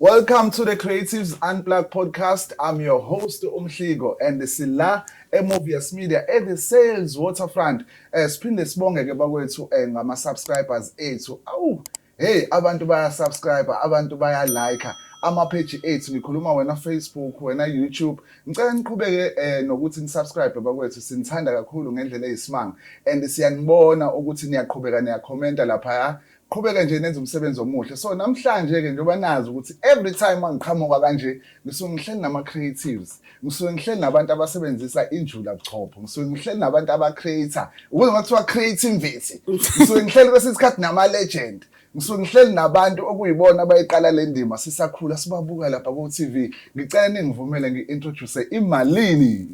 Welcome to the Creatives Unplugged podcast. I'm your host Umhligo and sila eMovies Media at the Sales Waterfront. Eh siphinde sibonge ke bakwethu eh, ngama subscribers ethu. Awu hey abantu baya subscribe, abantu baya like ama page ethu ngikhuluma wena Facebook, wena YouTube. Ngicela niqhubeke eh nokuthi nisubscribe bakwethu sinithanda kakhulu ngendlela eyisimanga and siyanibona ukuthi niyaqhubeka niyakhomenta lapha qhubeke nje nenza umsebenzi omuhle so namhlanje-ke njengoba nazi ukuthi every time mangiqhamuka kanje ngisuke ngihleli nama-creatives ngisuke ngihleli nabantu abasebenzisa injula buchopho ngisuke ngihleli nabantu aba-creator ukuze kwathiwa creativity ngisuke ngihleli kwesinye isikhathi nama-legend ngisuke ngihleli nabantu okuyibona abayiqala le ndima sisakhula sibabuka lapha ku-tv Ngicela ningivumele ngi-introduce imalini.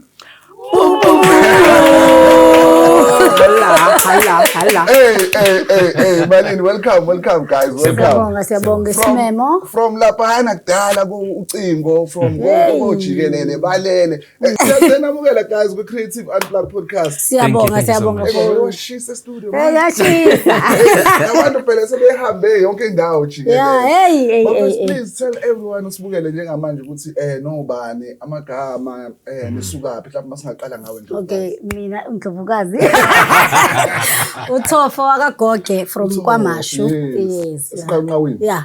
Malini, welcome, welcome guys, welcome. Siyabonga, siyabonga isimemo. From laphana kudala ku ucingo from konke ojikelele balele. Siyanamukela guys ku Creative Unplug podcast. Siyabonga siyabonga for washisa studio. Eh yashisa. Abantu phela sebehambe yonke indawo jikelele. Yeah, hey hey hey. Please tell everyone usibukele njengamanje ukuthi eh nobani amagama eh mm. nisukaphi mhlawumbe masingaqala ngawe nje. Okay, mina uNdlovukazi. Uthofo wakagoge from KwaMashu. Yes. Siqanqawini. Yeah.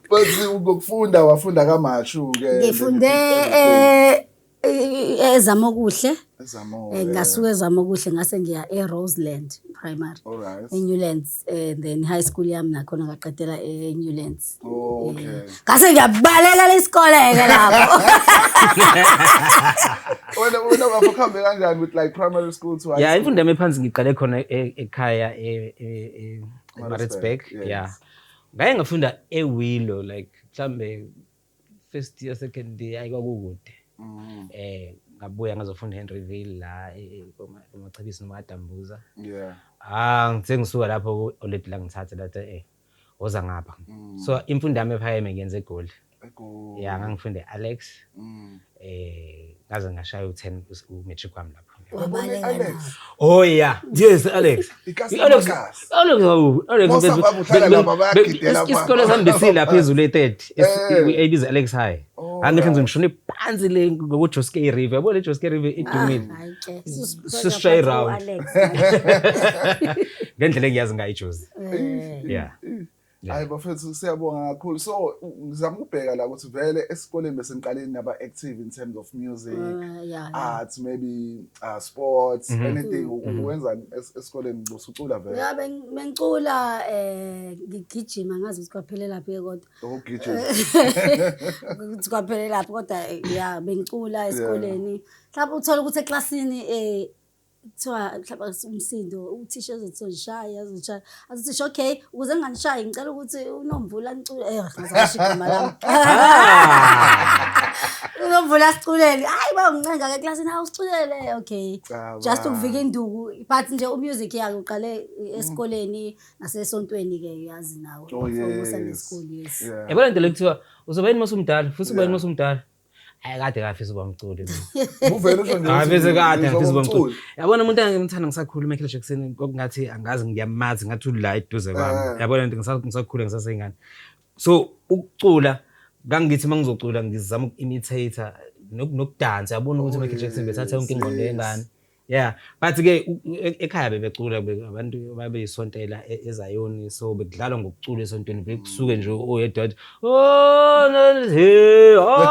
Bathi ukufunda wafunda kamashu ke. Ngifunde eh ezama okuhle. Ezama eh, okuhle. Ngasuka ezama okuhle ngase ngiya eRoseland Primary. Alright. ENewlands eh, and then high school yami nakhona ngaqedela eNewlands. Oh, okay. Eh, ngase ngiyabaleka lesikole ke lapho. Wena wena bafo khambe kanjani with like primary school to high school? Yeah, imfundo yami phansi ngiqale khona e, ekhaya e, e, e Maritzburg. Yeah. Ngaye ngafunda eWillow like mhlambe first year second year ayi kwakukude. Mm. Eh ngabuya ngazofunda eHenryville la e- e- koma- komachibisi noma adambuza. Yeah. Ah ngithe ngisuka lapho oledi la ngithathe lathi eh woza ngapha. Mm. So imfundo yami ephakeme ngiyenze eGoli. ya ngangifunda e-alex mm. eh ngaze ngashaya u-10 u-matric wami lapho Oh yeah. Yes, Alex. Alex. Alex. Isikole sambisile lapha ezulu e-third. Ebiza Alex High. Angithi ngize ngishone phansi le ngokuJoske River. Yabo le Joske River idumile. Sisishaye iround. Ngendlela engiyazi ngayo iJozi. Yeah. hayi bafethu siyabonga kakhulu so ngizama ukubheka la ukuthi vele esikoleni besengiqaleni naba active in terms of music uh, yeah, arts yeah. maybe uh, sports mm -hmm. anything mm -hmm. uwenza esikoleni usucula vele ya bengicula eh ngigijima ngazi ukuthi kwaphelela phi kodwa ukugijima ukuthi kwaphelela phi kodwa ya bengicula esikoleni mhlawumbe uthola ukuthi eclassini eh kuthiwa mhlawumbe umsindo uthisha ezothi uzishaya uzishaya azithisha okay ukuze nginganishayi ngicela ukuthi unomvula nicule eh ngizasho igama lami unomvula siculele hayi ba uncenga ke classini hawu siculele okay just ukuvika induku but nje umusic yake uqale esikoleni nasesontweni ke uyazi nawe oh, usenesikole yes yabona into lekuthiwa uzoba yini masumdala futhi uba yini masumdala Hayi kade ngafisa uba mculi mina. Uvele usho nje. Hayi bese kade ngafisa uba mculi. Yabona umuntu engimthanda ngisakhula uMichael Jackson ngokungathi angazi ngiyamazi ngathi ula eduze kwami. Eh. Yabona nje ngisakhula ngisasengane. So ukucula kangithi uma ngizocula ngizama uku-imitator nokudansa yabona ukuthi uMichael Jackson bethatha yonke ingqondo yengane. yeah but ke e-, ekhaya bebecula abantu babeyisontela e-, ezayoni so bekudlalwa ngokucula esontweni bekusuke nje oyedwa athi oh, oh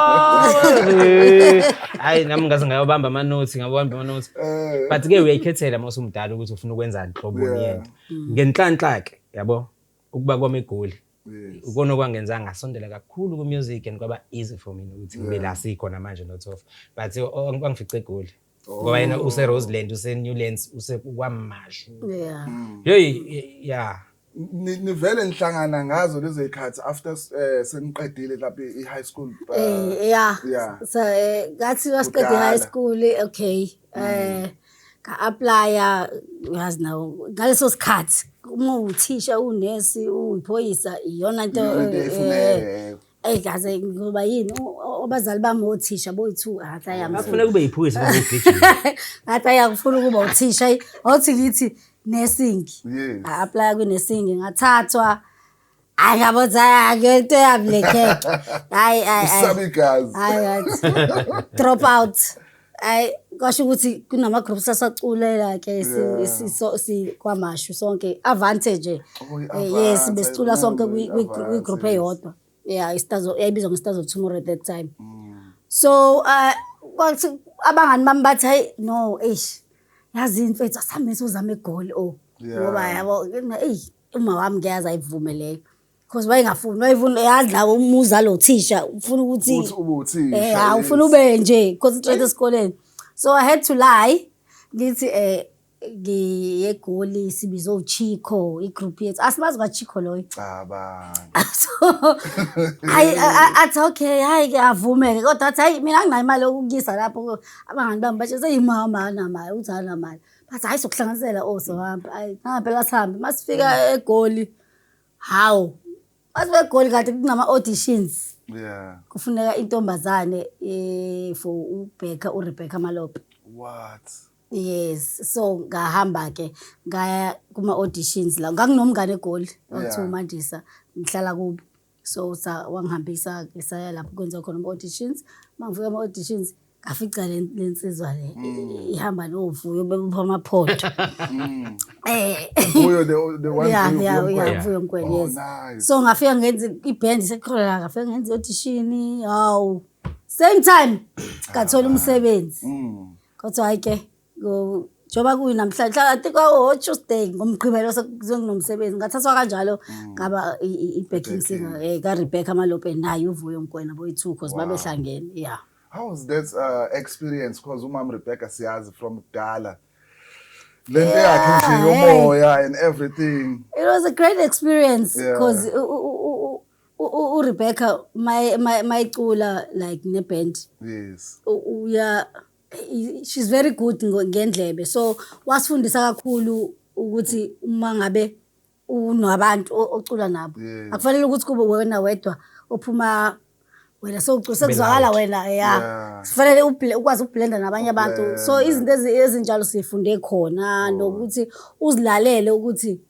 hayi nami ngaze ngayobamba amanothi ngabamba amanothi eh. but ke uyayikhethela uma usumdala ukuthi ufuna ukwenzani nhlobo yento ngenhlanhla ke yabo ukuba kwami egoli ukona okwangenza ngasondela kakhulu kumusic and kwaba easy for mina ukuthi ngibe la sikhona manje nothofa but kwangifice egoli oh. ngoba yena useroseland usenewlands usekwamashu mm. yeyi ya nivele nihlangana ngazo lezo zikhathi after eh, seniqedile lapha i-high school uh, eh, ya so eh, ngathi wasiqede i-high school okay um Nga-aplaya ngazi nawo ngaleso sikhathi uma uthisha unesi uyiphoyisa iyona nto eyi kaze ngoba yini abazali bami othisha boyi-two ngathi ayafuna kube yiphoyisa ngathi ayakufuna ukuba uthisha othi ngithi nesingi nga-aplaya kwinesingi ngathathwa Akabotsi hayi into yami le cake. Hayi hayi. Usabi gazi. Hayi hayi. Drop out. Hayi kwasho ukuthi kunama groups asaculela ke si so si kwamashu sonke advantage. Eh, yes besicula sonke kwi group eyodwa. Yeah, istazo yayibizwa ngestazo tomorrow at that time. Mm. So uh kwathi abangani bami bathi hayi no eish. Yazi imfethu asambe sozama egoli oh. Ngoba yabo eyi Uma wami ngiyazi ayivume leyo. Because wayengafuni, wayefuna yadla umuza lo thisha, ufuna ukuthi Uthi ube uthisha, Eh, ha, yes. ufuna ube nje, concentrate esikoleni. So I had to lie. Ngithi eh ngiye goli sibizo uChico, igroup yethu. Asimazi kwaChico loyo. Cabanga. so I, I, I, athi okay hayi ke avumeke kodwa athi hayi mina anginayo imali yokukuyisa lapho abangani bami bathi seyimama anamali uthi anamali bathi hayi sokuhlanganisela o oh, sohamba hayi nangampela sihambe uma sifika mm. egoli hawu uma sibe egoli kade kunama-auditions yeah kufuneka intombazane eh for uBecca uRebecca Malope what yes so ngahamba ke ngaya kuma auditions la ngakunomngane egoli okuthiwa uMandisa ngihlala kubo so sa wangihambisa ke saya lapho kwenza khona ama-auditions uma ngifika ama-auditions ngafica le le nsizwa le Mm. ihamba novuyo bebupha amaphotho um Uyo the the one Eh. Yeah, who- yeah, who- yeah, who- Vuyo Mkweli, Oh, yes. nice. so ngafika ngenza ibhendi sekholala ngafika ngenza i-audishini hawu same time ngathola umsebenzi Mm. kodwa hhayi ke njengoba kuyinamhlanje hlakanti kwawo-tuesday ngomgqibelo sekuzokunomsebenzi ngathathwa kanjalo mm. ngaba i-backing singer um eh, karebecca malope naye uvuyo mkwena boyi-two cause babehlangene ya yeah. how was that uh, experience cause umam rebecca siyazi from kudala le nto yakhe nje yomoya and everything it was a great experience because yeah. urebecca mayicula like neband yes uya she's very good ngo- ngendlebe so wasifundisa kakhulu ukuthi uma ngabe unabantu o- ocula nabo Yeah. akufanele ukuthi kube wena wedwa ophuma wena sowucula sekuzwakala wena ya Yeah. kufanele uble- ukwazi ukublenda nabanye abantu so Ukublenda. izinto ezi- ezinjalo sifunde khona nokuthi uzilalele ukuthi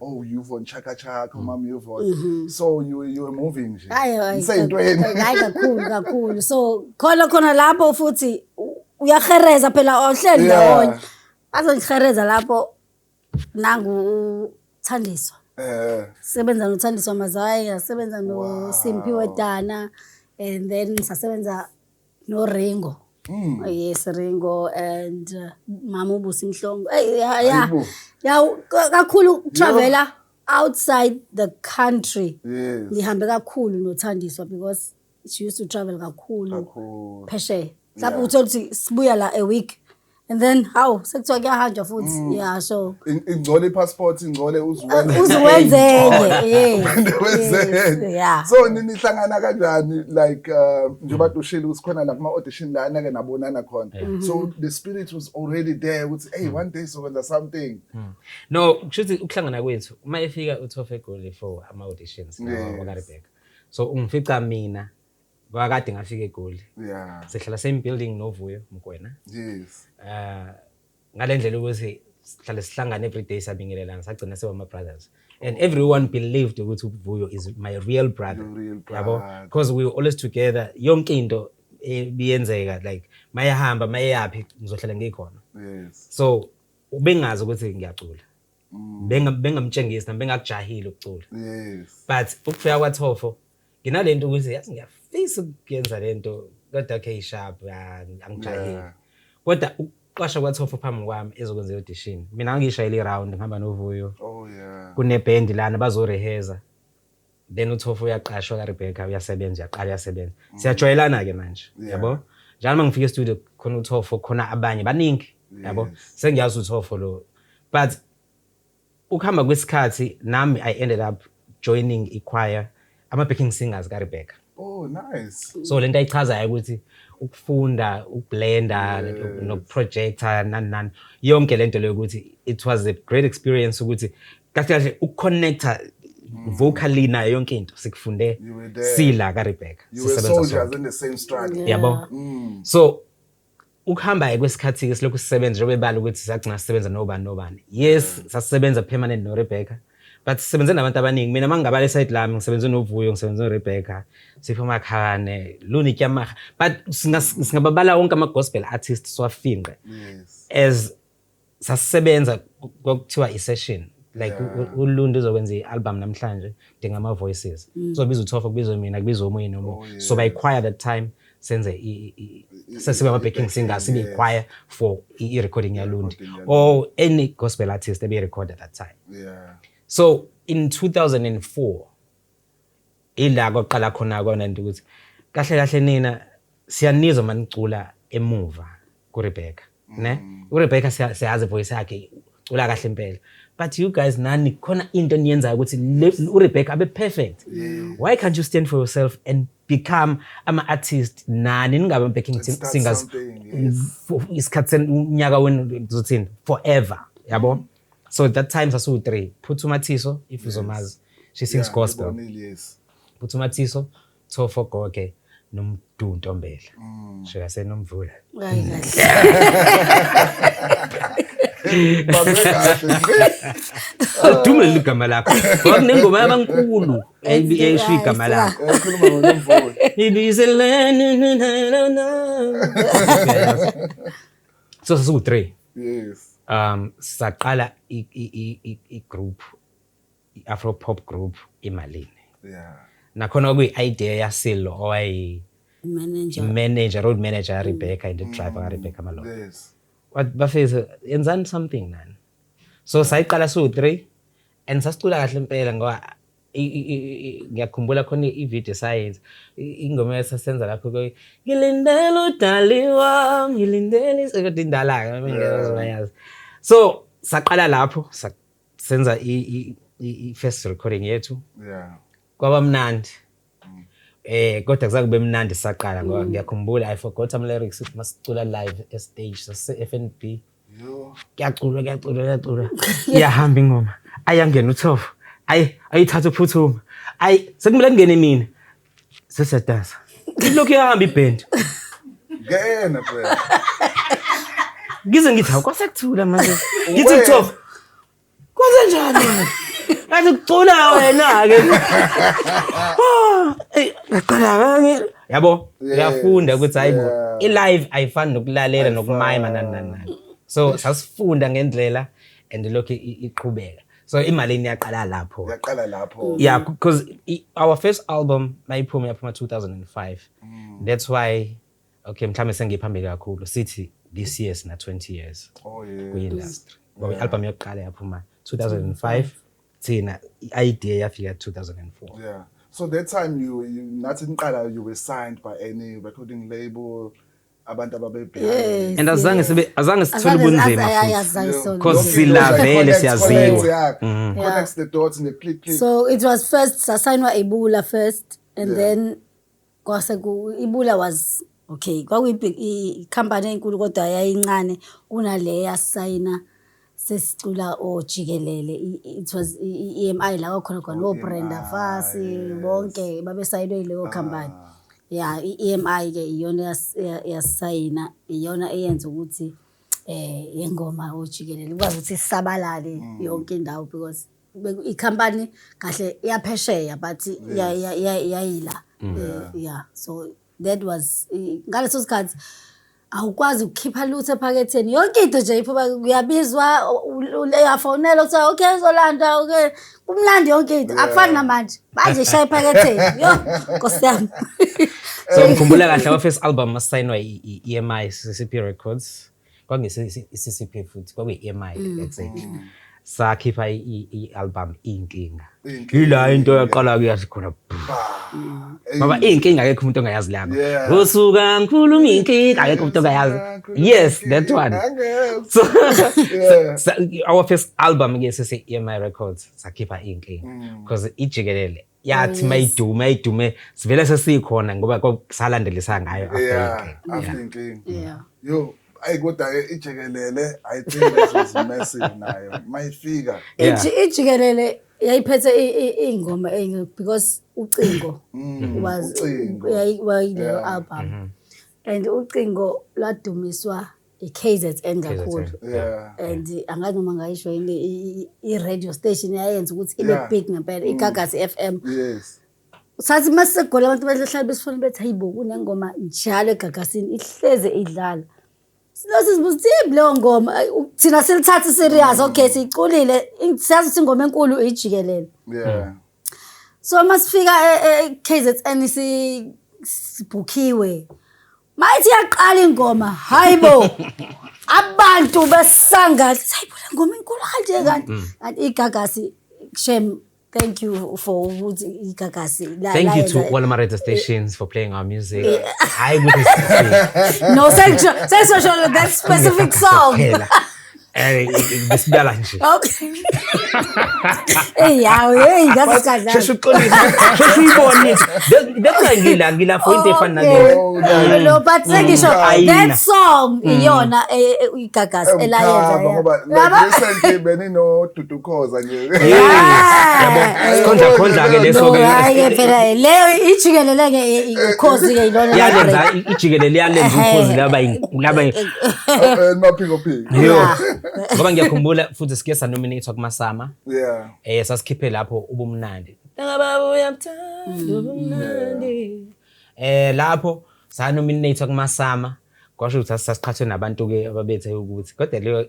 oh Yvonne chaka chaka mm. mama Yvonne mm -hmm. so you you were moving nje ngiseyintweni hayi kakhulu kakhulu so khona khona lapho futhi uyahereza phela ohleli ndawonye yeah. azongihereza lapho nangu thandiswa eh sebenza nothandiswa mazaya sebenza no wow. Simphiwe Dana and then sasebenza no Ringo Mm. Oh, yes Ringo and uh, mama ubusi mhlongo hey ya ya ya kakhulu travela outside the country yes ngihambe kakhulu nothandiswa because she used to travel kakhulu phesheya mhlawumbe uthola ukuthi sibuya la a week and then hawu sekuthiwa kuyahanjwa futhi mm. yeah so In- ingcole i-passport ingcole uzuwenze uze wenzenye eh, yeah so ni- nihlangana kanjani like uh, njengoba dushile ukuthi khona la kuma-audition la anake nabonana khona mm-hmm. so the spirit was already there ukuthi hey one day sokwenza something mm. no kusho ukuthi ukuhlangana kwethu uma efika uthofe egoli for ama-auditions Yeah. wakarebeka so ungifica mina Kwakade ngafika eGoli. Yeah. Sihlala same building noVuyo Mkwena. Yes. Uh ngalendlela ukuthi sihlale sihlangane every day sabingelelana sagcina siba ama brothers. And everyone believed ukuthi uVuyo is my real brother. Real brother. Yabo because we were always together. Yonke into ebiyenzeka like mayehamba mayeyaphi ngizohlala ngikhona. Yes. So ubengazi ukuthi ngiyacula. Mm. benga bengamtshengisi nami bengakujahile ukucula yes but ukufika kwaThofo nginalento ukuthi yazi ngiyafisa ukuyenza lento kodwa okay sharp angijahile Yeah. kodwa ukuqasha kwaThofo phambi kwami ezokwenza audition mina ngishayile iround ngihamba novuyo oh yeah kuneband lana bazoreheza then uthofu uyaqashwa ka Rebecca uyasebenza uyaqala uyasebenza mm. siyajwayelana ke manje yabo njalo uma ngifika estudio khona uthofo khona abanye baningi yabo sengiyazi uthofo lo but ukuhamba kwesikhathi nami i ended up joining ichoir ama backing singers ka Rebecca Oh nice. So lento ayichazayo ukuthi ukufunda ukublenda nokuprojecta nani nani yonke lento leyo ukuthi it was a great experience ukuthi kahle kahle ukuconnecta mm. vocally nayo yonke into sikufunde sila ka Rebecca. You were soldiers in the same struggle. Yabo. Mm. So Ukuhamba-ke kwesikhathi-ke silokhu sisebenza njengoba ebala ukuthi sagcina sisebenza nobani nobani. Yes, mm. sasisebenza permanent noRebecca. But sisebenze nabantu abaningi. Mina uma ngingabala esayidi lami ngisebenze noVuyo, ngisebenze noRebecca, Sipho Makhane, Luni Kyamaga. But singababala wonke ama-gospel artists siwafinqe. Yes. As sasisebenza kwakuthiwa i-session like yeah. uluntu uzokwenza i-album namhlanje dinga ama-voices mm. kuzobiza uthofa kubizwe mina kubizwe omunye nomunye oh, yeah. so by choir that time senze sesibe ama-backing singer sibe i-choir for i-recording yalundi or any gospel artist ebeyi-record at that time yeah. so in 2004 Ila koqala khona kona nje ukuthi kahle kahle nina siyanizwa manicula emuva kuRebecca ne mm. uRebecca siyazi voice yakhe cula kahle impela but you guys nani khona into eniyenzayo ukuthi uRebecca abe perfect why can't you stand for yourself and become ama artist nani ningabe backing singers isikhathi unyaka wenu zothini forever yabo so that time sasiwu-three phutha umathiso if uzomazi she sings Yeah, gospel ngibonile, yes. phutha umathiso thofo goge nomdu ntombela Mm. sho yasenomvula Hayi kahle. Bambe kahle. udume leli gama lakho ngoba kunengoma yabankulu ebi- esho igama lakho Eh, khuluma ngonomvula. ibizelene so sasiwu 3 yes um saqala i group i afro pop group imalini yeah nakhona okuyi idea yasilo owayi manager manager road manager mm. Rebecca and the mm. driver mm. Rebecca Malone yes what bafethu yenzani something nani so sayiqala siwu 3 and sasicula kahle impela ngoba ngiyakhumbula khona ivideo esayenza ingoma esasenza lapho ke ngilindele udali wam ngilindele kodwa indala-ke ngiyazi so saqala lapho senza i-first recording yethu kwaba mnandi mm. eh kodwa kuza kube mnandi saqala ngoba mm. ngiyakhumbula i forgot ama lyrics masicula live e stage sase FNB kuyaculwa kuyaculwa kuyaculwa iyahamba ingoma ayangena uthofo ayi ayithatha uphuthuma ayi sekumele kungene mina sesiyadansa ilokhu iyahamba ibhendi ngena ngize ngithi awukwasekuthula manje ngithi uthofo Kwenzenjani? Athi kucula wena ke. Ngaqala kangi. Yabo, uyafunda ukuthi hayibo i-live ayifani nokulalela nokumayima nani nani nani. So sasifunda ngendlela and lokho iqhubeka. so imali iyaqala lapho yaqala lapho mm. yeah because our first album mayiphuma yaphuma 2005 mm. that's why okay mhlawumbe sengiphambili kakhulu sithi this year sina 20 years oh yeah kwi-industry ngoba yeah. i-album yokuqala yaphuma 2005 thina i-idea yafika 2004 yeah so that time you, you nathi niqala you were signed by any recording label abantu ababebhekene and azange sibe azange sithole ubunzima because silavele siyaziwa mm. connects the dots ne click click so it was first sasayinwa ebula first and yeah. then Kwase ku Ibula was okay, kwakuyikhampani enkulu kodwa yayincane kunale yasayina sesicula ojikelele it was i-EMI la kwakhona khona no Brenda Fassie bonke babesayinwe yileyo khampani. Ah. Ya i-EMI ke iyona yasayina iyona eyenza ukuthi eh yengoma ojikelele kwazi ukuthi isabalale mm. yonke indawo because Beku- ikhampani kahle iyaphesheya but ya- ya- ya- yayila Eh, yeah so that was eh, ngaleso sikhathi awukwazi ukukhipha lutho ephaketheni yonke into nje iphuma kuyabizwa u- u- uyafonela kuthiwa okay uzolanda okay kumnandi yonke into akufani namanje manje ishaya ephaketheni yo nkosi yami so ngikhumbula kahle our first album asayinwa i-emi ccp records kwakungesiCCP futhi kwakuyi-EMI mm. exactly mm. sakhipha i-album iyinkinga yila into yaqala kuyathi khona mm. ngoba iyinkinga akekho umuntu ongayazi lama usuka ngikhuluma iyinkinga akekho umuntu ongayazi yes that one so our first album ke sese-emi records sakhipha iyinkinga because ijikelele yathi oh, mayidume ayidume sivele sesikhona ngoba salandelisa ngayo after inking yeah yo ayi kodwa ke ijikelele i think this was massive nayo mayifika ijikelele yayiphethe ingoma enye because ucingo mm, was wayile album mm-hmm. and ucingo lwadumiswa i-KZN kakhulu yeah and angazi noma ngayisho yini i- i- i-radio station yayenza ukuthi ibe Yeah. big ngempela igagasi FM yes sathi uma sisegola abantu bahlala besifuna bethi hayibo kunengoma njalo egagasini ihleze idlala sinase sibuza ukuthi yini leyo ngoma Ay, u- thina silithathe serious okay siyiculile in- siyazi ukuthi ingoma enkulu ijikelele yeah so uma sifika e- e- KZN si- sibhukhiwe Mayithi yaqala ingoma, hayibo. Abantu besangathi, hayibo le ngoma inkulu kanje kanti. Mm. Kanti igagasi shem Thank you for ukuthi igagasi la Thank you to all my radio stations for playing our music. Hayi ukuthi No, sesho sesho that specific song. Eh, ngesidala nje okay hey yawo hey ngaze kadla sheshe uxolisa sheshe uyibone that's why ngila ngila for into efana nale lo but sengisho mm. that song mm. iyona eh, eh, igagasi elayenza ngoba recently benino dudu ukhoza nje yabo sikhonza khonza ke leso ke hayi ke phela leyo ijikelele ke ikhozi ke ilona yalenza ijikelele yalenza ukhozi laba laba maphiko phiko yo ngoba ngiyakhumbula futhi sike sa nominate kuma sama yeah eh sasikhiphe lapho ubumnandi ngababa uyamthanda ubumnandi eh lapho sa nominate kuma sama kwasho ukuthi sasiqhathwe nabantu ke ababethe ukuthi kodwa leyo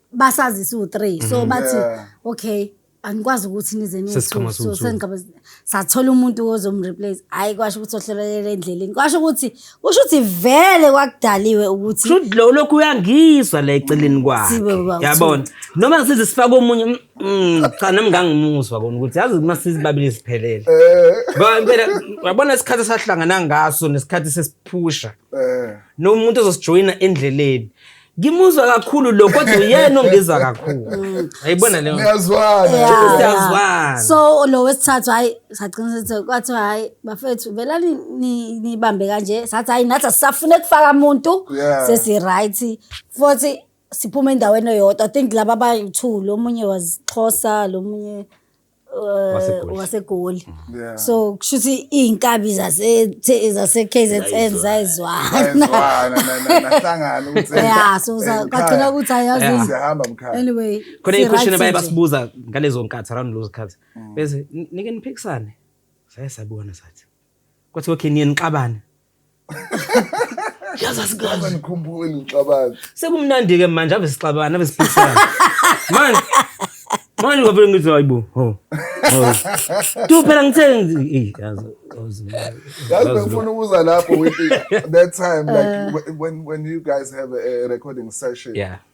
basazi siwu-three so bathi Yeah. okay anikwazi ukuthi nize Sesiqhamuka niwu-two. So siwu-two. sengiqhamuka- sathola umuntu ozomreplace hhayi kwasho ukuthi ohlelelele endleleni kwasho ukuthi kusho ukuthi vele kwakudaliwe ukuthi Shuthi lo lokhu uyangizwa la eceleni kwakhe. Sibe kwakuthiwa. Yabona. Noma ngisize sifake omunye mm, mm, cha nami ngangimuzwa kona ukuthi yazi uma sizibabili siphelele. Eh, Ngoba impela yabona isikhathi sahlangana ngaso nesikhathi sesiphusha eh. nomuntu ozosijoyina endleleni ngimuzwa kakhulu lo kodwa uyena ongizwa kakhulu ayibona leyo Niyazwana. Yeah. Siyazwana. so lo wesithathu hhayi sagcina sithi kwathiwa hhayi bafethu vela ni- ni- nibambe kanje sathi hhayi nathi asisafune kufaka muntu Yeah. sesi-right futhi siphuma endaweni eyodwa i think laba abayi-two lo munye wasixhosa lo munye uh, wasegoli yeah. so kusho ukuthi iy'nkabi zase-kzn zayizwana ya so kwagcina ukuthi ayazianyway khona iy'queshini baye basibuza ngalezo nkathi around lozo khathi mm. bese nike niphikisane saye sabukana sathi kwathiwa okay niye nixabane yazi asikazi nikhumbule ngixabana sekumnandi ke manje ave sixabana ave siphikisana manje manje ngavele ngithi hayibo ho tu phela ngithe eh yazi yazi bengifuna ukuza lapho with that time like when when you guys have a recording session yeah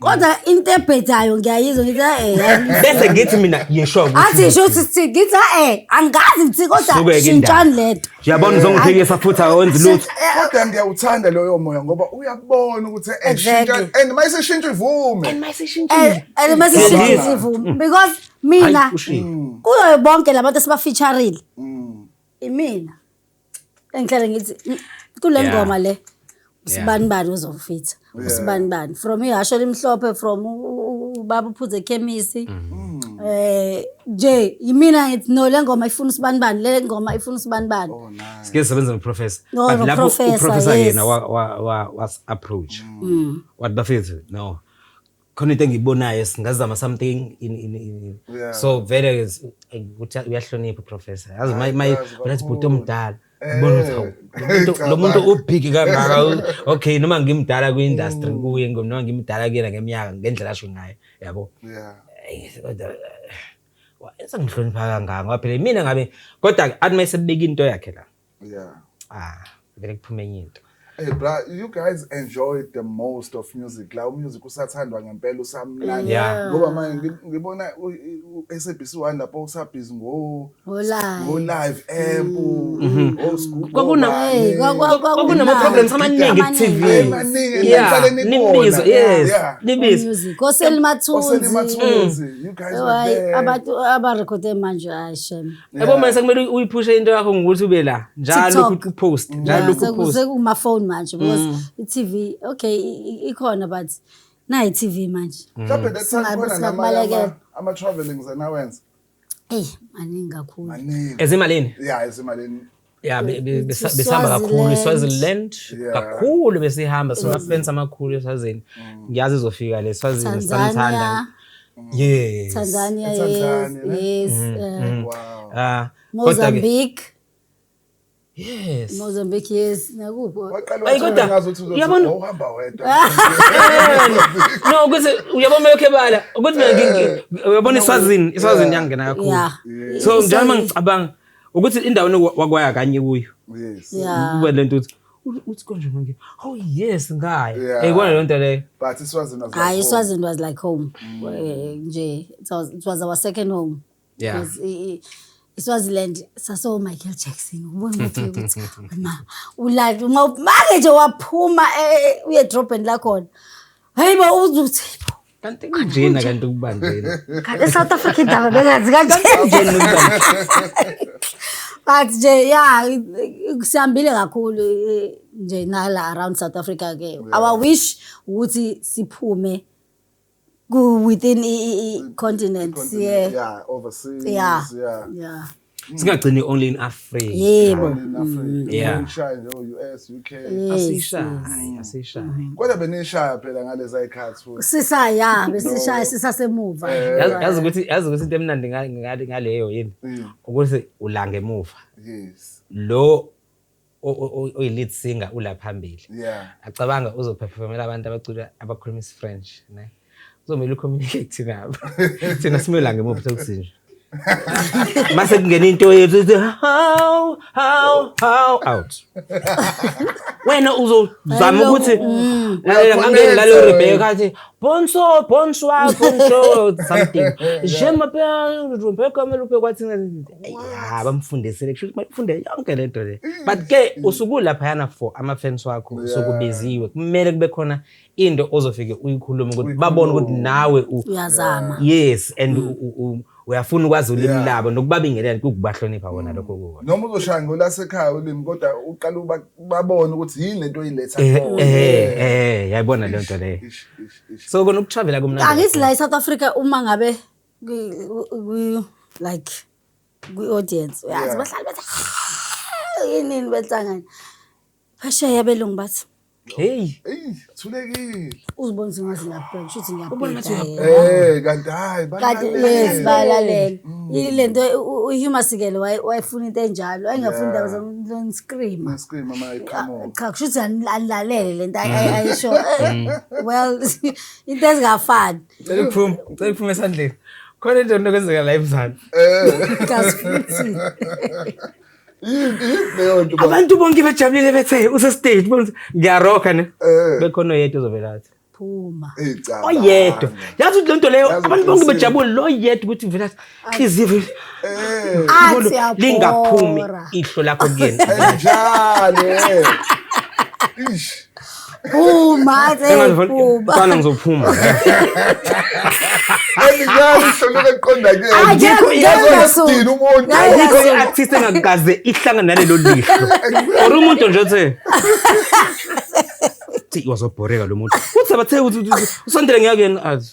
kodwa into ebhedayo ngiyayizwa ngithi eh, eh bese ngithi mina yesho athi sho sithi ngithi eh angazi ngithi kodwa shintshani lento uyabona uzongiphikisa futhi awenzi lutho eh, kodwa ngiyawuthanda loyo moya ngoba uyabona ukuthi eshintsha eh, and mayisishintsha ivume and mayisishintsha and mayisishintsha ivume mm. because mina mm. kuyo bonke labantu esibafeaturile mm. imina engihlale ngithi mm, kule Yeah. ngoma le usibani bani uzofitha usibani bani from ihasho elimhlophe from u- u- u- ubaba uphuze ekhemisi eh nje yimina ngithi no le ngoma ifuna usibani bani le ngoma ifuna usibani bani sike sebenza noprofessor No, But lapho noprofessor, uprofessor yes. yena wa- wa- wa- was approach wathi bafethu no khona into engiyibonayo singazama something in, in, in. Yeah. so vele is- ay, ukuthi uyahlonipha uprofessor yazi Ay, maye yazi unathi kakhulu. bhuti omdala Eh, ubona ukuthi hawu, lo muntu- cabanga. lo muntu ubhiki kangaka u- okay noma ngimdala kwi-industry Mm. kuye ngo- noma ngimdala kuyena ngeminyaka ngendlela asho ngayo yabo Yeah. Ay, kodwa, eh, wa- sengihlonipha kangaka ngoba phela mina ngabe kodwa athi uma esebeka into yakhe la yeah ah vele kuphume enye into Hey bra, you guys enjoyed the most of music. La music usathandwa ngempela usamnandi. Yeah. Ngoba manje ngibona uSABC 1 lapho usabhizi ngo ngo live app, mm-hmm. ngo scoop. Kwakuna kwakunama problems amaningi ku TV. Yeah. Nibizo, yes. Nibizo. Koselimathuzi. Koselimathuzi. Mm. You guys were there. Abantu abarekhode manje ayishem. yabo manje sekumele uyiphushe into yakho ngokuthi ube la njalo ukuthi upost njalo lokhu upost sekuma phone manje because mm. iTV okay ikhona but nayi TV manje mm. mhlawumbe that's khona namanye ama travelings anawenza eh maningi kakhulu maningi ezimalini yeah ezimalini ya besihamba kakhulu iswaziland kakhulu besihamba sinamafrensi amakhulu eswazini mm. ngiyazi izofika le swazini sanithanda yes tanzania yes yes mm, uh, mm. Ah, mozambique Yes. Mozambique yes nakuphi? Ayi kodwa uyabona uhamba wedwa. No ukuthi uyabona mele khebala ukuthi mina ngi uyabona iswazini iswazini yangena kakhulu. So njalo mangicabanga ukuthi indawo wakwaya kanye kuyo yes kube lento ukuthi uthi konje manje oh yes ngaya eh kona lento leyo but iswazini was hayi iswazini was like home mm. eh, nje it was it was our second home yeah iswaziland saso Michael Jackson ubona ukuthi ukuthi ma ulala uma make nje waphuma eh, eh, uye drop and la khona hayibo uzuthi kanti kunjena kanti ukubanjena kanti south africa indaba bengazi kanjena but nje ya sihambile kakhulu eh, nje nala around south africa ke our wish ukuthi siphume within i-continent yeah. yeah overseas yeah, yeah. yeah. singagcini only in africa yebo mm. yeah ngishaye nje US UK asishaye asishaye mm-hmm. kodwa benishaya phela ngaleza ikhathi futhi sisaya besishaya sisasemuva eh, yazi ukuthi yazi ukuthi into emnandi ngale ngaleyo yini mm. ukuthi ulanga emuva yes lo oyi-lead singer ula phambili acabanga uzophefomela abantu abacula abakhuluma isi-french ne kuzomele ucommunicate nabo thina simela ngemuphi sekusinje mase kungena into yethu ithi how how how out wena uzozama ukuthi mm. ngangeni lalo rebheka athi Bonso, bonsoir, bonjour, something. Je m'appelle, je m'appelle comme le pekwa thina. Ya, bamfundisele kusho bafunde yonke lento le. But ke usuku lapha yana for ama fans wakho sokubiziwe. Kumele kube khona into ozofike uyikhulume ukuthi babone ukuthi nawe uyazama. Yes, and uyafuna ukwazi ulimi Yeah. labo nokubabingelela kukubahlonipha wona lokho kuwona noma uzoshaya ngolasekhaya ulimi kodwa uqala uba- babone ukuthi yini lento oyiletha Eh, kuwona. eh, eh, yayibona leyo nto leyo Ish, ish, ish. so kona ukutravela kumnandi angithi la e-south africa uma ngabe kwi- kwi- kwi- like kwi-audience uyazi Yeah. bahlale bethi "Ah, yinini behlangane Phesheya abelungu bathi Hey, Eyi, thulekile. uzibona ukuthi ngaze ngiyabheka kusho ukuthi Ubona ngathi ngiyabheka uyabheka. Eh, kanti hayi kanti yes balalele. balalele ilento uhuma sikele waye- wayefuna into enjalo ayengafuni indaba zomscream Mascream ama come on. cha kusho ukuthi ani- anilalele lento ay- ay- ayisho Eh, well into ezingafani Cela ukuphuma, cela ukuphuma esandleni. Khona into enokwenzeka la emzansi. Eh. Kazi futhi. abantu bonke bejabulile bethe usestage ngiyaroka ne eh. bekhona oyedwa ozovela athi phuma oyedwa yazi ukuthi lento leyo abantu bonke bejabule lo yedwa ukuthi uvela athi izivu eh. lingaphumi ihlo lakho kuyena njalo eh. phuma kuba ngizophuma andikazi hlonike kuqonda kuyena umuntu ayikho i-artist engakaze ihlangane nalelo lihlo or umuntu nje othe wazobhoreka lo muntu uthi abathe usondele ngiyakuyena azi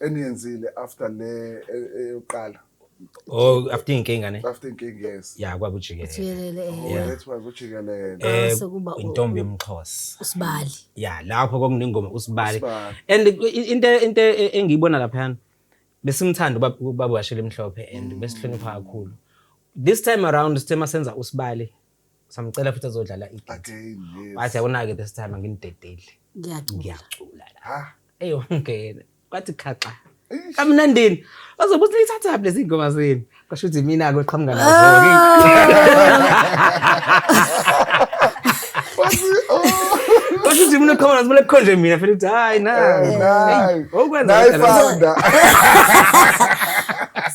eniyenzile after le e- eyokuqala oh after inkinga ne after inkinga yes ya kwakujikelele jikelele eh, oh that was ujikelele eh Base kuba u- intombi yomxhosa usibali ya lapho kwakunengoma usibali Usibali. and i- into into e- engiyibona laphana besimthanda ubab- ubaba washela emhlophe and Mm. besihlonipha kakhulu this time around sithe masenza usibali samcela futhi azodlala igate again yes wathi akunake this time anginidedeli ngiyacula ngiyacula la ha eyongena kwathi khaxa Eish. kamnandini bazobe uthi nithathaphi lezi ngoma zenu kwasho ukuthi mina-ke oqhamuka nazo-ke Wathi, oh, kwasho ukuthi mina oqhamuka nazo kumele kukhonje mina fela ukuthi hayi na eh, nayi. okwenza Nayi kanjalo. founder.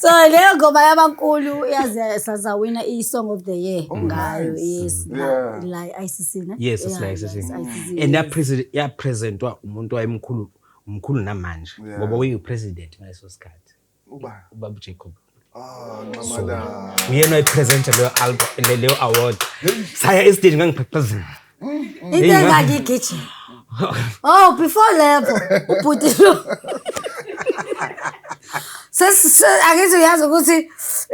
so leyo ngoma yabankulu yaze sazawina song of the year oh, ngayo nice. yes yeah. la, la ICC ne yes yeah, la ICC yes, ICC and yes. president ya presentwa umuntu wayemkhulu umkhulu namanje yeah. ngoba uyi president ngaleso sikhathi uba uba Jacob Ah, uyena oyipresente leyo album leyo award saya estage ngangiphephezela into engakigijima oh before level ubhuti lo angithi uyazi ukuthi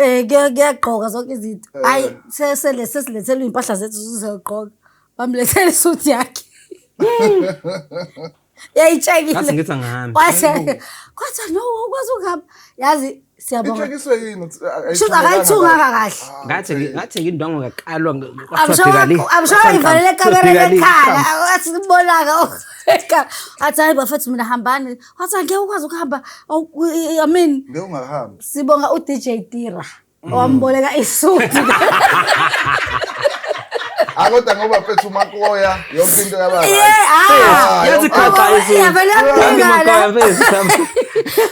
um kuyagqoka zonke izinto hhayi eh. sesilethelwe iy'mpahla zethu zizogqoka bamlethele isuthi yakhe yayitshekile ngathi ngithi angihambi kwase kwathi no ukwazi ukuhamba yazi siyabonga ithekiswe yini shuthi akayithunganga kahle ah, ngathi ngathi ngindwango ngakalwa kwathwabhekali amshaya ngivalele kamera lekhala asibonaka athi hayi bafethu mina hambani wathi angeke ukwazi ukuhamba i mean ngeke ungahambi sibonga u DJ Tira wamboleka isuthi akoda ngoba phethu umakoya yonke into yababa ah, yazi khapha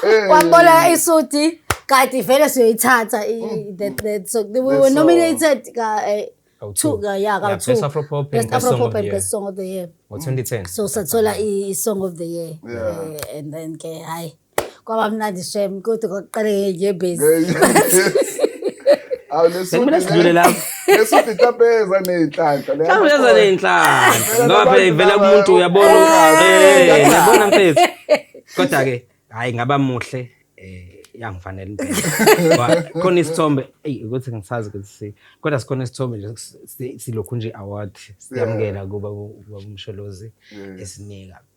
eh. wamboleka isuthi kati vele siyoyithatha mm. that so we were nominated ka eh, two ka yeah ka two best afro pop and best song of the year best song of the year ngo 2010 so sathola i song of the year eh, and then ke hayi kwaba mnandi shem kodwa kwakuqale ngenyembezi sekumele sidlule lapho esuthi mhlawumbe eza ney'nhlanhla mhlawumbe eza ney'nhlanhla ngoba phela ivela kumuntu uyabona eh, yabona mfethu kodwa-ke hhayi ngaba muhle um yangifanele impela khona isithombe eyi ukuthi ngisazi ukuthi si kodwa sikhona isithombe nje silokhu nje award siyamukela kuba umsholozi esinika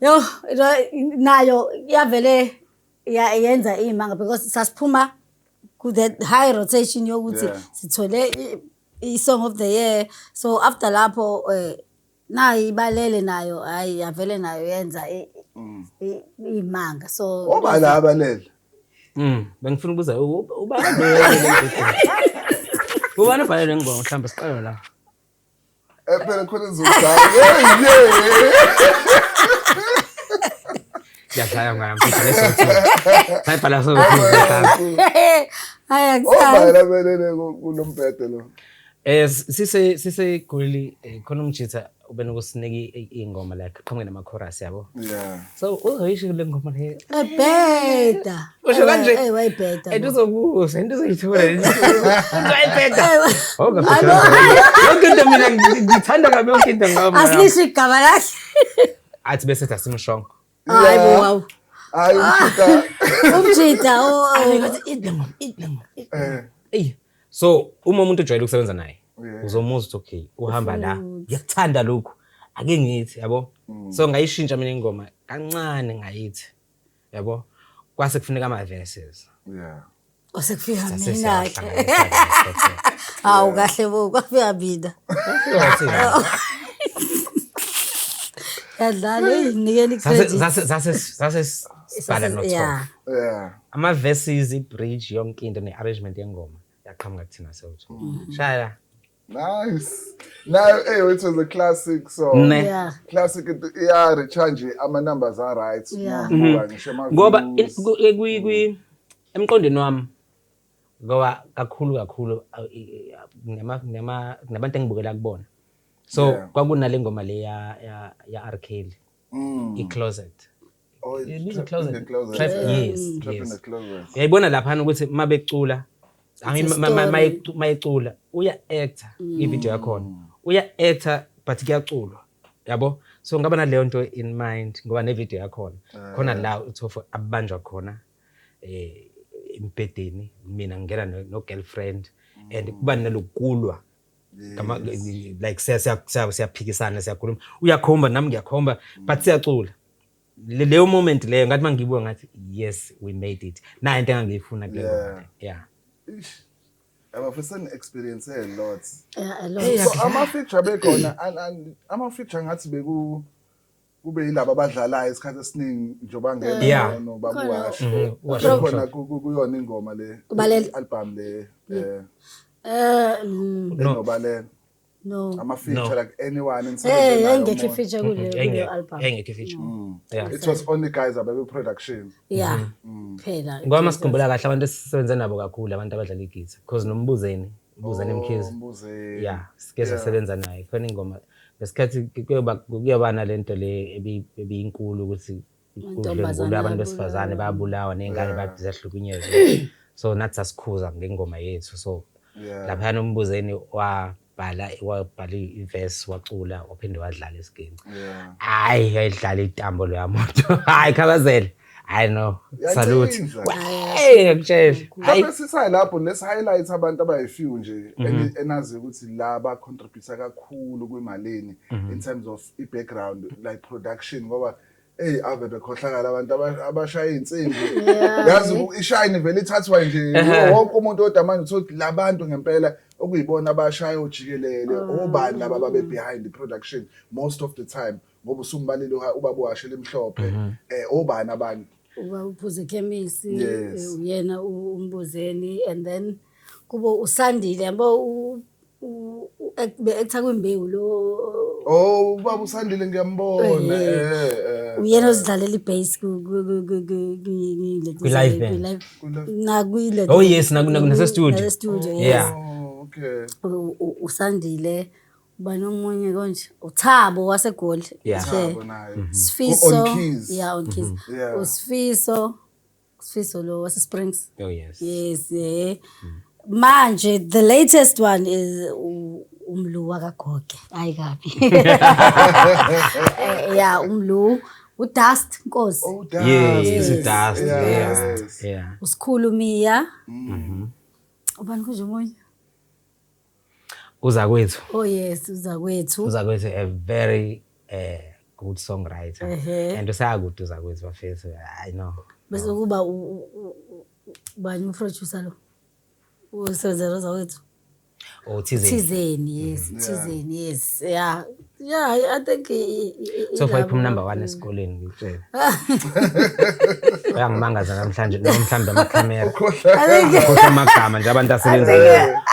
Yo nayo yavele yenza imanga because sasiphuma ku the high rotation yokuthi sithole i song of the year so after lapho eh nayi ibalele nayo hayi yavele nayo yenza mm. imanga so obala abalele mm bengifuna ukubuza ubani ubani obhalele ngibonga mhlawumbe siqale la Eh phela khona izodlala. Siyadlala ngwana mfethu lesotho. Sayibhala so. Hayi akusazi. Obhala belele kulombhede lo. Eh sise sise goli eh, khona umjitha ubena ukusiniki ingoma like qhamuke nama chorus yabo. Yeah. So uzoyisho le ngoma le. Ebheda. usho eh, kanje eh wayibheda and uzokuza into uzoyithola wayibheda yonke into mina ngithanda kabi yonke into ngami asilisho igama lakhe athi bese asimshongo hayi bo wow hayi umjita umjita oh, oh. eh. eyi so uma umuntu ujwayele ukusebenza naye uzomuzwa ukuthi okay uhamba la ngiyakuthanda lokhu ake ngithi yabo mm. so ngayishintsha mina ingoma kancane ngayithi yabo kwase kufuneka ama verses yeah kwase kufika mina ke hawu kahle bo kwafika mina yadlala eyinikela icredit zase zase zase sibhala no yeah ama verses i bridge yonke into ne arrangement yengoma yaqhamuka kuthina sewutho mm. shaya Nice. Nayo hey it was a classic song. Ne. Yeah. Classic it- iya recharge ama numbers are right. Yeah. Ngoba ngisho ama ngoba in- views. ku- eh, kwi- kwi- emqondweni wami ngoba kakhulu kakhulu aw- i- i- kunama- kunama- kunabantu engibukela kubona so Yeah. kwakunale ngoma le ya- ya- ya-r kelly Mm. i-closet Oh, it's It is a trap closet. in the closet. Trap, Yeah. yes, Mm. Trap in yes. the closet. uyayibona laphana ukuthi uma becula I mean, It's a ma- ma- ma- story. Mm. mayecu- mayecula uya actor ivideo yakhona uya actor but kuyaculwa yabo so ngaba naleyo nto in mind ngoba nevideo yakhona Ah. khona la uthofo abanjwa khona eh embhedeni mina ngingena no- no girlfriend and Mm. kuba nalokulwa Ngama- like siya- siya- siya- siyaphikisana siyakhuluma uyakhomba nami ngiyakhomba but siyacula Le- leyo moment leyo ngathi mangiyibuka ngathi yes we made it nayo into engangiyifuna kule Yeah. ngoma le. yeah abafisa ni-experience a lot Yeah, a lot. so ama-feature abekhona an- an- ama-feature ngathi beku kube yilaba abadlalayo isikhathi esiningi njengoba Yeah. ngena Khona. nobabuwasho Mhm, uwasho khona umshado. ku- ku- kuyona ingoma le Ubalele. i-album le eh, Eh, mm, No. enobalele No. Ama feature No. like anyone in Hey, yayingekho ifeature kule kule Yayinge- album. yayingekho ifeature Mm. Yeah. It was only guys ababe production. Yeah. Mm. Phela. ngoba uma sikhumbula kahle abantu esisebenze nabo kakhulu abantu abadlala igitha because nombuzeni ubuzeni mkhize Oh, Mbuzeni. ya sike Yeah. sasebenza naye khona ingoma ngesikhathi kuyoba kuyoba nalento le ebi- ebiyinkulu ukuthi kudlwengulwa abantu besifazane babulawa ney'ngane bathi ziyahlukunyezwa so nathi sasikhuza ngengoma yethu so laphayana umbuzeni wabhala wabhala ivesi wacula waphinde wadlala isiginci hayi yayidlala itambo loya muntu hayi khabazela hayi no salute ngiyakutshela hayi sisayi lapho let's highlight abantu abayifew nje mhm. enazi ukuthi la ba contribute kakhulu kwimalini mhm. in terms of i background like production ngoba Ey ave bekhohlakala abantu aba- abashaya iy'nsimbi Yeah. yazi u- ishayini vele ithathwa nje Ehhe. wonke umuntu kodwa manje uthole ukuthi labantu ngempela okuyibona abashaya ojikelele Ah. obani laba babe behind the production most of the time ngoba usumbalile uha- ubaba uhashe elimhlophe Mhm. eh obani abanye uba uphuze ekhemisi Yes. eh, uyena u- umbuzeni and then kubo usandile yabo u- ekutha kwimbewu lo oh ubaba usandile ngiyambona eh, eh, eh. uyena ozidlalela ibase kwi-live nakwi-le oh yes nasestudio studio yeah oh, okay usandile uba nomunye konje uthabo wasegoli mhm. sifiso ya on keys mhm. usifiso Sifiso lo wase Springs. Oh yes. Yes, eh. Mm. Manje the latest one is umlu wakagoge. Hayi kabi. Eh, yeah, umlu udust nkosi. Oh, dust. Yes, yes. it's dust. Yeah. Yeah. yeah. Usikhulu Mia. Mhm. Mm ubani kunje omunye uzakwethu oh yes uzakwethu uzakwethu a very uh, good songwriter uh -huh. and usayakude uzakwethu bafethu i know bese kuba bani uproducer lo usebenza uzakwethu othizeni oh, thizeni yes mm. thizeni yes yeah Yeah, I, I think so far iphuma number 1 esikoleni ngikutshela. Uyangimangaza namhlanje noma mhlambe ama camera. Ukhohlwa amagama nje abantu asebenza.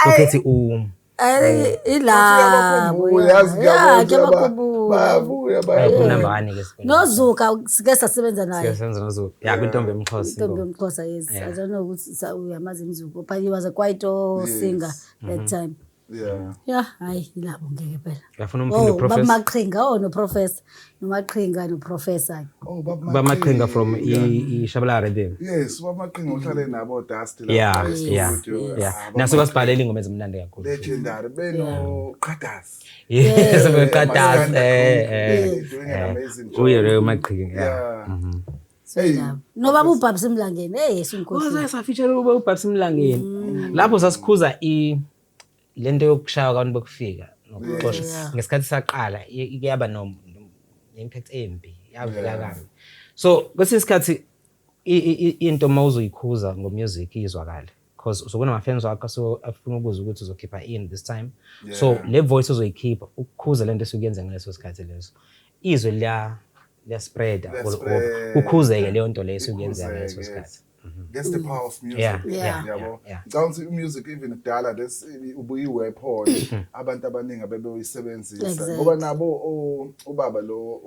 Ukhethi u I think ila. Uyazi ngiyabona bayabuya bayabuyanambani ke nozuka sike sasebenza naye siyasenza nozuka ya kwintombi emxhosa intombi emxhosa yes i don't know ukuthi uyamazi mzuko but he was a quite singer that mm-hmm. time Yeah. Yeah, hayi ilabo ngeke phela. Yafuna umfundo oh, professor. Baba Maqhinga oh no professor. Nomaqhinga no professor. Oh baba Maqhinga. Baba Maqhinga from i Shabala Rhythm. Yes, baba Maqhinga uhlale nabo Dust la. Yeah, yeah. Yeah. Ah, Naso basibhalela ingoma ezimnandi kakhulu. Legendary beno Qadas. Yes, beno Qadas. Eh eh. Uye Real Maqhinga. Yeah. Mhm. nobaba ubhabha simlangeni hey yesinkosi safitshela ukuba ubhabha simlangeni mm. lapho sasikhuza i lento yokushaya abantu bokufika nokuxosha ngesikhathi saqala kuyaba no impact embi yavela kabi so kwesinye isikhathi into uma uzoyikhuza ngomusic izwakale because uzobe unamafans wakho so afuna ukuza ukuthi uzokhipha ini this time yeah. so le voice uzoyikhipha ukukhuza lento esukuyenze ngaleso sikhathi leso izwe liya liyaspreada kukhuzeke leyo nto leyo esukuyenze ngaleso sikhathi mhm. That's the power of music. Yeah. Yeah. Yabo. Yeah. Ngicabanga ukuthi music even kudala this ubuyi weapon mhm. abantu abaningi abebeyisebenzisa ngoba nabo ubaba lo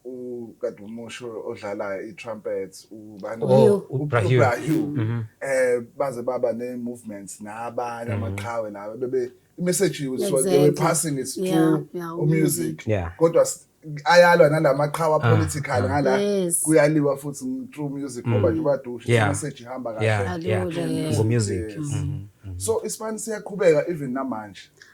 ukadumusho odlala i-trumpet ubani Oh, uBrahim. uBrahim. Mhm. eh baze baba ne movements nabanye Mhm. amaqhawe lawo bebe message was they were Exactly. passing it Yeah, through yeah, u music Yeah. kodwa s- ayalwa nalamaqhawa Ah, political ah. ngala Yes. kuyaliwa futhi ng- through music ngoba nje badusha Mm. Yeah. message ihamba Yeah, kahle yeah. Alula, yeah. Ngo-music. Yes. Mhm. so isibani siyaqhubeka even namanje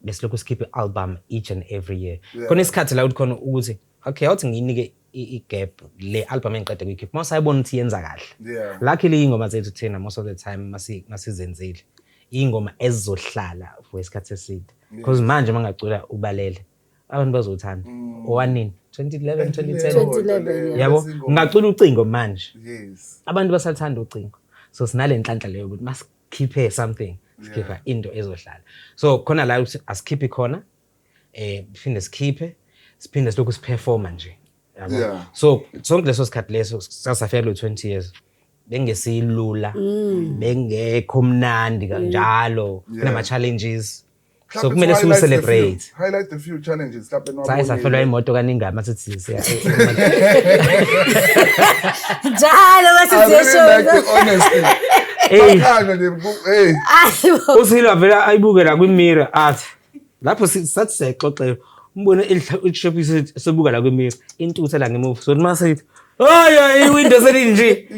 besilokhu sikhipha i-album each and every year yeah. khona isikhathi la ukuthi khona ukuthi okay awuthi ngiyinike i-gap le album engiqeda kuyikhipha uma usayibona ukuthi yenza kahle yeah. luckily iy'ngoma zethu thina most of the time masizenzile iy'ngoma ezizohlala for isikhathi eside because yeah. manje uma ngacula ubalele abantu bazothanda mm. owanini 2011 2010 yabo ngacula ucingo manje yes. abantu basathanda ucingo so sinale nhlanhla leyo ukuthi sikhiphe something sikhipha into ezohlala so khona la asikhiphi khona eh phinde sikhiphe siphinde silokhu siperforma nje yabo so sonke leso sikhathi leso sasafela u20 years bengesilula mm. bengekho mnandi kanjalo kunama challenges so kumele siwu celebrate highlight the few challenges mhlawumbe nowabona sayi safelwa imoto kaningama sithi siya njalo basizesho honestly hey hey usilo avela ayibuke la kwi mirror athi lapho sathi sexoxela umbone elishephi sebuka la kwi mirror intuthe la ngemuva so mase Hayi hayi iwindow selinje.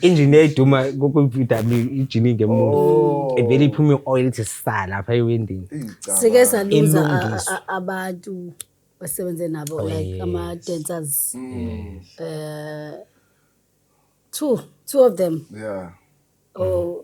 Engine yayiduma ku VW ijini ngemuva. Evele iphuma ioil ithi sala lapha ewindini. Sike saluza Ilungiswa. a- a- abantu basebenze nabo Oh, like yes. ama dancers. Mm. Eh two two of them. Yeah. Oh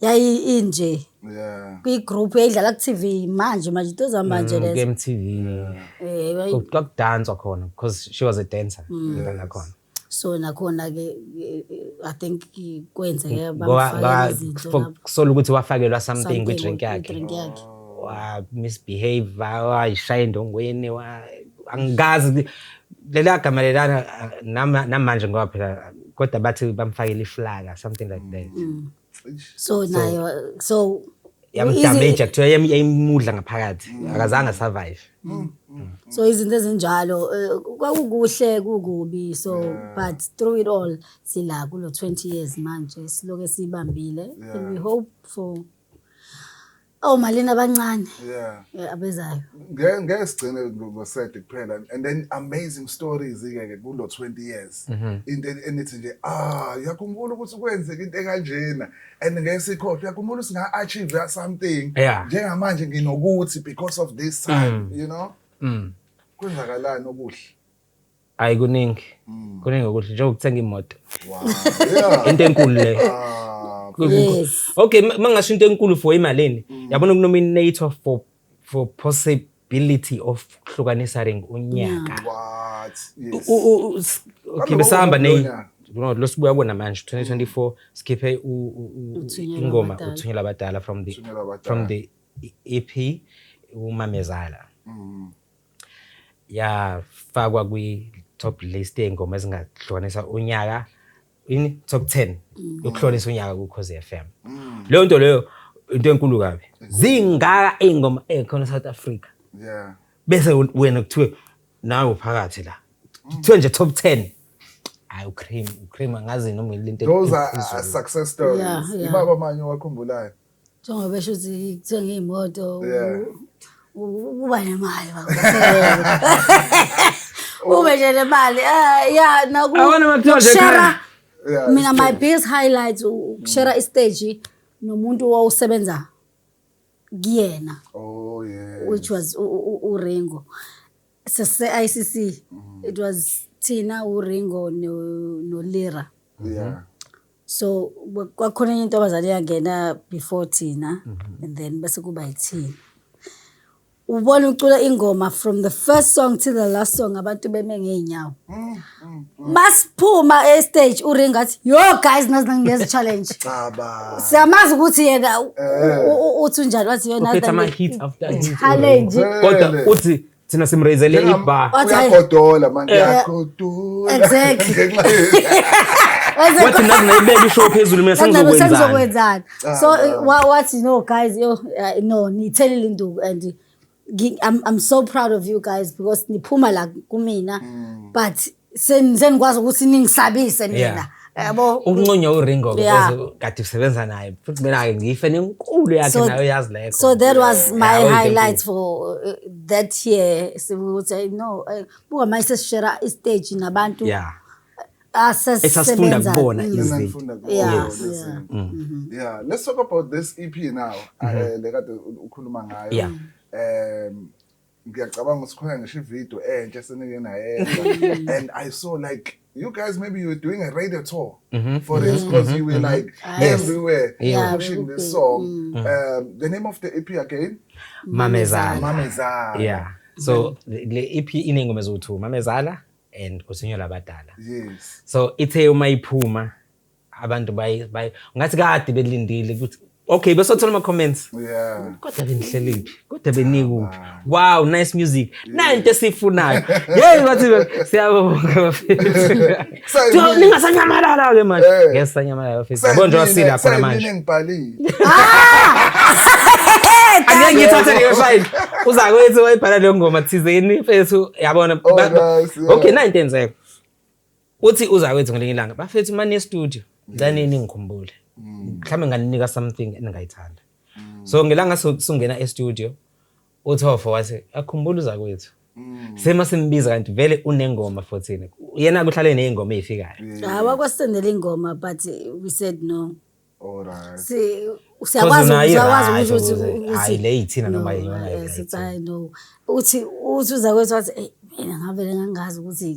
yayi inje Yeah. kwi group yayidlala ku TV manje manje into zamanje Mm, lezo KMTV. eh wayi- Ku- Kwakudanswa khona because she was a dancer. Mm. Ngidana khona. so nakhona ke eh, eh, i think i- kwenzeke Ngoba- bamfaka ngoba izinto for- lapho. kusola ukuthi wafakelwa something Something kwi-drink yakhe. kwi-drink yakhe wa misbehave wayishaya endongweni wa- angikazi ukuthi- Leliya gama lelana nama- namanje ngoba phela kodwa bathi bamfakele iflaka something like that so nayo so yamdamage kuthiwa yam- yayimudla ngaphakathi akazange asurvive so izinto ezinjalo eh, kwakukuhle kukubi so but through it all sila kulo 20 years manje siloke sibambile and we hope for Oh malini abancane. Yeah. Yeah abezayo. Ngeke ngeke sigcine ngosede kuphela and then amazing stories ke ke kulo 20 years. Mhm. Into enithi nje ah yakhumbula ukuthi kwenzeka into ekanjena and ngeke sikhohle yakhumbula singa achieve something Yeah. njengamanje nginokuthi because of this time Mm. you know. Mm. Kwenzakalani okuhle? hayi kuningi mm. kuningi okuhle njengokuthenga imoto into enkulu leyo ah, okay mangasho into enkulu for imalini mm. yabona ukunominator for for possibility of kuhlukanisa ring unyaka okay besahamba ne lo sibuya kona manje 2024 sikhiphe ingoma uthunyela abadala from the from the EP umamezala mm. yafakwa kwi-top list yey'ngoma ezingahlukanisa unyaka ini top ten yokuhlonisa unyaka kukhozi f m mm. leyo nto leyo into enkulu kabi zingaka iy'ngoma ey'khona e-south africa bese wena kuthiwe nawe uphakathi la kuthiwe nje top ten hayi ucream ucream angazi noma ngelinto those are success stories ibaba manye owakhumbulayo njengoba besho ukuthi kuthenga iy'moto ukuba nemali ube nje nemali ah, ya nakushera mina my biggest highlight ukushera mm. istage nomuntu owawusebenza kuyena oh, which was uringo sese-icc mm. it was thina uringo nolira no so kwakhona enye intombazane yangena before thina mm -hmm. and then bese kuba yithina ubona ucula ingoma from the first song to the last song abantu beme ngeenyawo masiphuma e stage uring athi yo guys nazi nangiyeza challenge siyamazi ukuthi yena eh. uthi unjani wathi yona challenge kodwa uthi thina simreyizele Njenga- ibar Wathi, hhayi. uyagodola manje Eh. uyagodola Exactly. Ngenxa ye- Waze- wathi nazi nayibeka ishow phezulu mina Wathi, "Nabe sengizokwenzani sengizokwenzani so Cha, wa- wathi no guys yo uh, no niyithelile induku and ngi- I'm, i'm so proud of you guys because niphuma la kumina but Sen- senikwazi ukuthi ningisabise mina Yeah. yabo Ukunconywa uRingo ke Yeah. bese kade usebenza naye. Futhi mina ke ngife nenkulu yakhe So- nayo yazi lekho. so that was Yeah, my uyinto highlight enkulu. for uh, that year sibuthi "Ay, no eh, buka manje sesishera istage nabantu Yeah. asesisebenza Esasifunda kubona Mm. izinto. Engifunda kuyo, Yeah, yeah. listen. Yeah, let's talk about this EP now. eh, le kade u- ukhuluma ngayo. Yeah. Um ngiyacabanga ukuthi khona ngisho ivideo entsha esenike nayenza and i saw like you guys maybe you were doing a radio tour mm -hmm. for mm -hmm. this because you were mm-hmm. like mm-hmm. yes. everywhere yeah. pushing this song mm -hmm. um, the name of the ep again mamezala mamezala yeah so le ep inengoma eziwu-two mamezala and usinyo labadala yes so ithe uma iphuma abantu bayi bayi ngathi kade belindile ukuthi okay besothola ama comments yeah kodwa benihlelephi kodwa benikuphi wow nice music nanto esifunayo hey bathi siyabonga bafethu so ningasanyamalala ke manje eh. ngeke sanyamalala bafethu yabo nje wasila khona manje ngibhalile angeke ngithathe leyo file uza kwethu wayibhala leyo ngoma thizeni mfethu yabona oh, okay nanto enzeka uthi uzakwethu ngelinye ilanga bafethu mani estudio ngicane ningikhumbule mhlawumbe nganinika something eningayithanda so ngelanga su- sungena estudio uthofo wathi akhumbula uzakwethu sema simbiza kanti vele unengoma 14 yena kuhlale neyingoma eyifikayo hayi wakwasendela ingoma but we said no siyakwazi ukwazi ukuthi hayi le yithina noma yiyona hayi no uthi uthi uza kwethu wathi eyi mina ngavele ngangazi ukuthi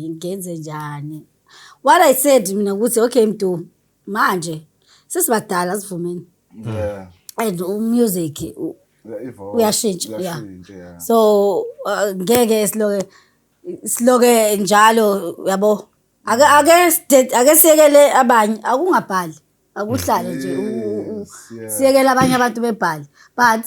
ngenze njani what i said mina ukuthi okay mdu manje sesibadala sivumeni and umusic uyashintsha ya so uh, ngeke siloke siloke njalo yabo ake ake side- ake siyekele abanye akungabhali akuhlale nje u- u- u- Yes, yeah. siyekele abanye abantu bebhale but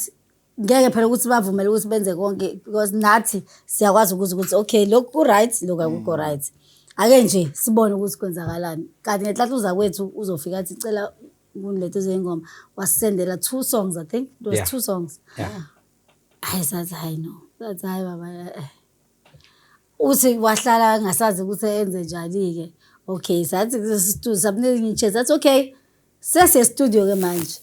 ngeke phela ukuthi bavumele ukuthi benze konke because nathi siyakwazi ukuthi ukuthi okay lokhu ku-right lokhu akukho Mm. right ake nje sibone ukuthi kwenzakalani kanti ngenhlathuza kwethu uzofika athi cela kunilethwe zeyingoma wasisendela two songs i think it was Yeah. two songs Yeah. hayi sathi hayi no sathi hayi baba eh, eh. uthi wahlala angasazi ukuthi enze njani-ke okay sathi studio samnika enye ichance athi okay sesestudio-ke manje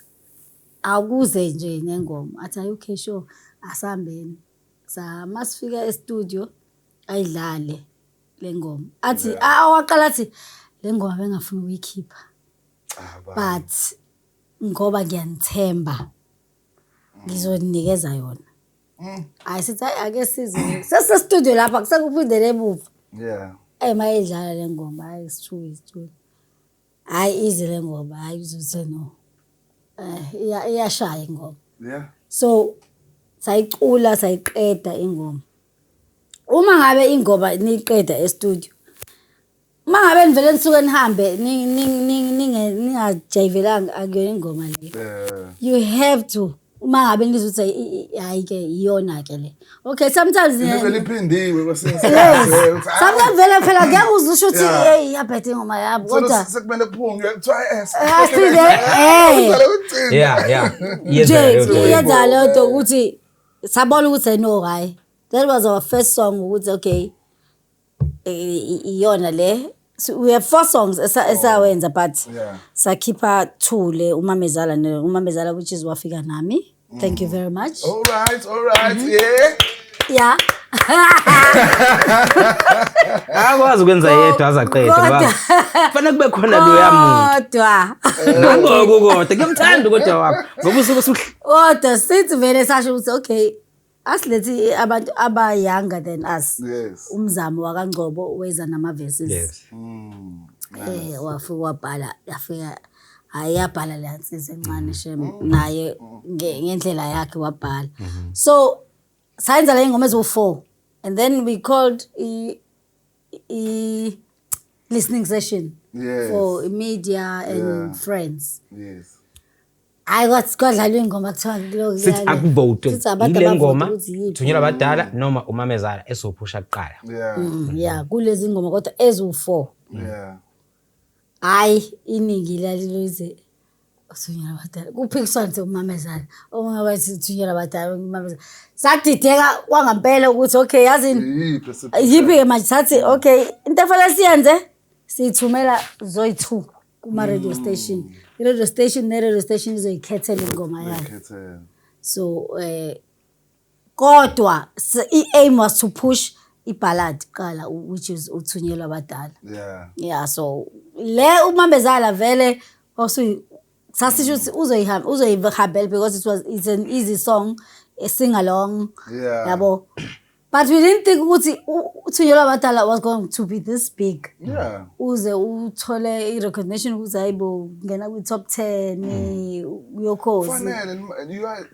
akuze nje nengoma athi hayi okay sure asihambeni sama sifika estudio ayidlale le ngoma athi awaqala athi le ngoma bengafuni ukuyikhipha but ngoba ngiyanithemba ngizoninikeza yona hayi sithi hayi ake size sesisestudio lapha kusekuphindele emuva yeah eyi uma edlala le ngoma hayi isithuka isithuka hayi ize le ngoma hayi uzothe no um iyashaya ingoma yeah so sayicula sayiqeda ingoma uma ngabe ingoma niyiqeda estudio Uma ngabe nivele nisuke nihambe ningajayivelanga akuyona ingoma le. Eh. You have to uma ngabe ngizothi hayi ke iyona ke le okay sometimes liphindiwe kwesinye sometimes vele phela ngeke uzisho ukuthi hey iyabhethe ingoma yabo kodwa sekumele kuphunywe kuthiwa asile eh yeah yeah yenza yenza leyo nto ukuthi sabona ukuthi ayino hayi that was our first song ukuthi okay iyona le So we have four songs esa- esawenza but Yeah. sakhipha two le umamezala ne- umamezala which is wafika nami thank you very much All right, all right, Mm-hmm. yeah. yeah akwazi ukwenza yedwa azaqede ngoba kodwa- kufanele kube khona loya muntu kodwa nangoku kodwa kuyamthanda kodwa wakho ngoba usuke usuhl- kodwa sithi vele sasho ukuthi okay asilethi abantu aba-younger than us yes umzamo wakangcobo weza nama-verses yes um wafike wabhala yafika hhayi yabhala leya nsizi encane shem naye nge- ngendlela yakhe wabhala so sayenza le ngoma eziwu-four and then we called i- i-listening session Yes. for media and Yeah. friends Yes. hayi kwathi kwadlalwa iy'ngoma kuthiwa kulo- sithi kuyale. akuvotwe Sithi abantu yile abavote ngoma ukuthi yiphi. thunyelwa abadala noma umamezala esophusha kuqala Yeah. Mm, ya kulezi ngoma kodwa eziwu-four Yeah. Hhayi iningi laliluze uthunyelwa abadala kuphikiswana nje ukumamezana omunye wathi uthunyelwa abadala ukumamezana sadideka kwangampela ukuthi okay yazini yiphi-ke manje sathi okay into efanele siyenze siyithumela zoyi-two kuma-radio mm. station i-radio station ne-radio station izoyikhethela ingoma yayo so um kodwa s- i-aim was to push iballad kuqala u- which is uthunyelwa abadala yeah yeah so le umambezala vele wawusuyi sasisho ukuthi uzoyihamba uzoyihambela because it was it's an easy song a sing along Yeah. yabo but we didn't think ukuthi u- uthunyelwa abadala was going to be this big yeah uze uthole i-recognition ukuthi hayi bo ngena kwi-top ten uyokhozi fanele nima- you are-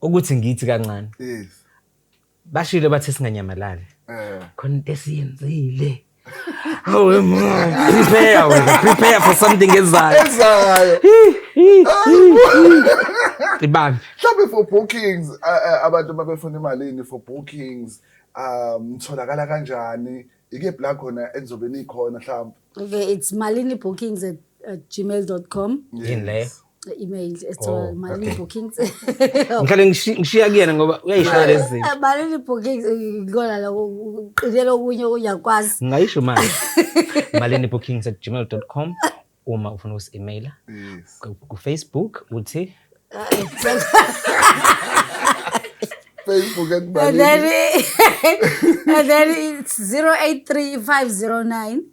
ukuthi ngithi kancane yes bashilo bathe singanyamalali eh khona into esiyenzile awe mama prepare wena prepare for something ezayo ezayo ibambe mhlawumbe for bookings abantu babefuna imalini for bookings um tholakala kanjani ike bla khona enizobe nikhona mhlawumbe okay it's malini bookings at gmail.com yini leyo i-email esithola Oh, malini okay. bookings ngihlale ngishi- ngishiya kuyena ngoba uyayishaya lezi zinto malini bookings ngikona lokho uqinele okunye uyakwazi ngingayisho manje malini bookings at gmail com uma ufuna ukusi-emaila Yes. Ku- kufacebook uthi Facebook at and then Malini. and then it's 083 509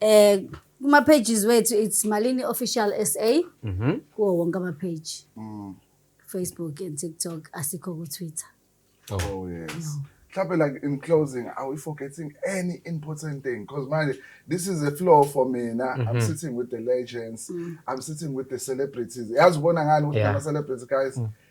Eh kuma pages wethu it's Malini Official SA mhm kuwo wonke ama page mm. Facebook and TikTok asikho ku Twitter oh yes mhlawumbe like in closing are we forgetting any important thing because manje this is a floor for mina mm -hmm. i'm mhm. sitting with the legends mm. i'm sitting with the celebrities yazi ubona ngani ukuthi yeah. ama celebrities guys mm.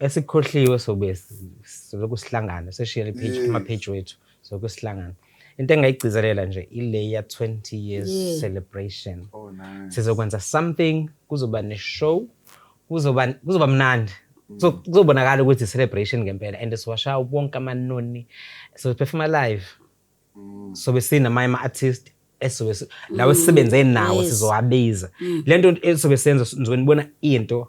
esikhohliwe sobe siloku sihlangana seshiyele page Yes. kuma page wethu soku sihlangana into engayigcizelela nje ile ya 20 years Yeah. celebration Oh nice. sizokwenza something kuzoba ne-show kuzoba kuzoba mnandi So, kuzobonakala ukuthi celebration ngempela and siwasha wonke amanoni sophefuma live sobe sinamanye ama-artist esobe si- lawo esisebenze nawo Yes. sizowabiza le nto esobe senza nizonibona into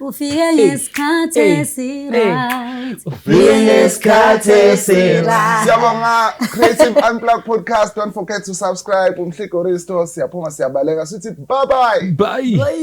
Ufike ngesikhathi esiryt. Ufike ngesikhathi esiryt. Siyabonga Creative Unplug Podcast. Don't forget to subscribe. Umhligo Risto siyaphuma siyabaleka sithi bye bye. Bye. bye.